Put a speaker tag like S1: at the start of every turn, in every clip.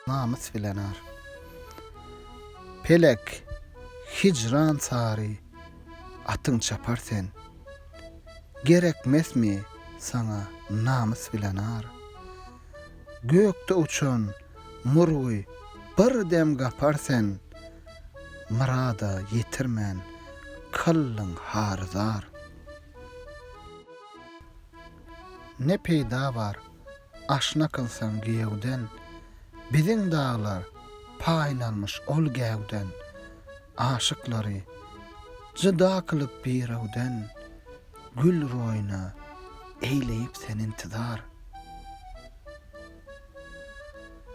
S1: Namys bilen ar. Pelek, hijran sary atyň çapar sen. Gerekmesmi saňa namys bilen ar. Gökde uçan murgy bir dem gapar sen. Myrada ýetirmän kyldyň hary zar. Ne peýda bar. Aşna kylsaň giýewden, Biziň daglar paýlanmyş ol gäwden. Aşyklary jyda kylyp birewden, Gül roýuna eýleýip sen intizar.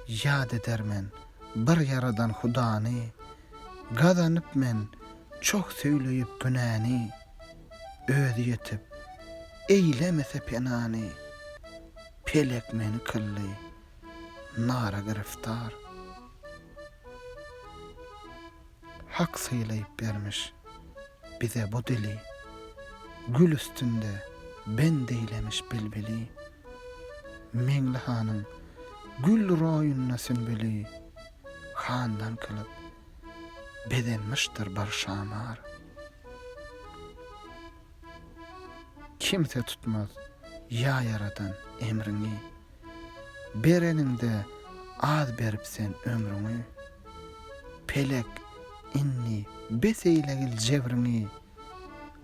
S1: Ýat eder men bir ýaradan hudany, Gazanyp men çoh söýleýip günäni. Özi ýetip, eýlemese penany, Pelek meni kyldy nara giriftar. Hak sylaýyp bermiş bize bu dili, Gül üstünde bend eýlemiş bilbili. Meňli hanyň gül roýunda sünbüli, Handan kylyp Bezenmişdir bir şamar. Kimse tutmaz, ýa Ýaradan, emriňi. Bereniňde az berip sen ömrüňi. Pelek, indi bes eýlegil jebiriňi.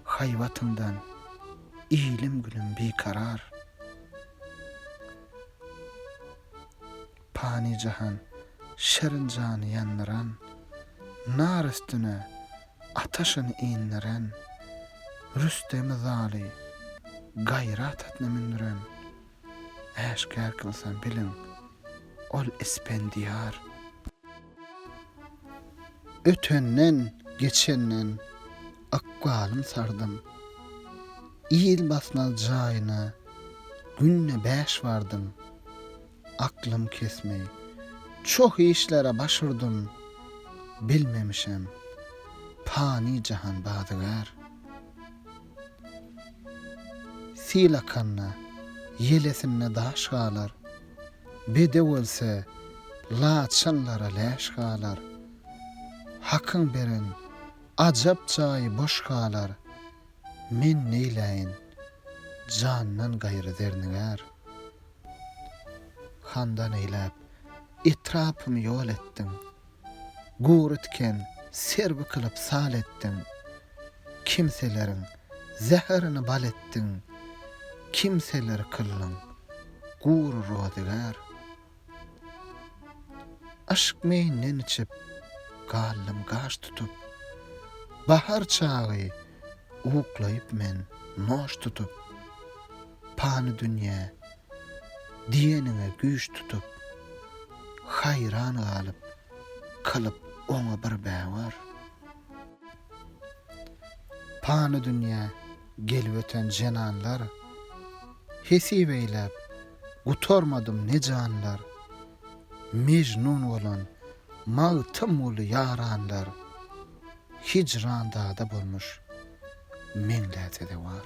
S1: Haýbatyňdan, ilim-günüm bikarar. Pany jahan, şirin jany ýandyran, Nar üstüne ataşyn indiren, Rüstemi zaly gaýrat atna mündüren, Äşgär kylsa, biliň, ol Ispendiýar. Ötenden, geçenden ykbalym sardym, Il basmaz jaýyna günde bäş bardym. Aklym kesmi. Çoh işlere baş urdum, bilmemişem. Pany jahan bazygär. Sil akanda, ýelesinde daş galar. Bedew ölse, laçynlara läş galar. Hakyň beren ajap jaýy boş galar. Men neýläýin, jandan gaýry zernigär. Handan eýläp, etrapym ýol etdiň, Gury tiken, serbi kylyp sal etdiň. Kimseleriň zäherini bal etdiň, Kimseleri kyldyň gury rozygär. Yşk meýinden içip, galdym gaş tutup, Bahar çagy uklaýyp men noş tutup. pany dünýä diýenine güýç tutup, haýran galyp, kylyp oňa bir bäwar. Pany dünýä gelip öten jenanlar, hesip eýläp, gutarmadym ne janlar, Mejnun bolan Magtymguly ýaranlar, Hijran dagda bolmuş meňläse-de war.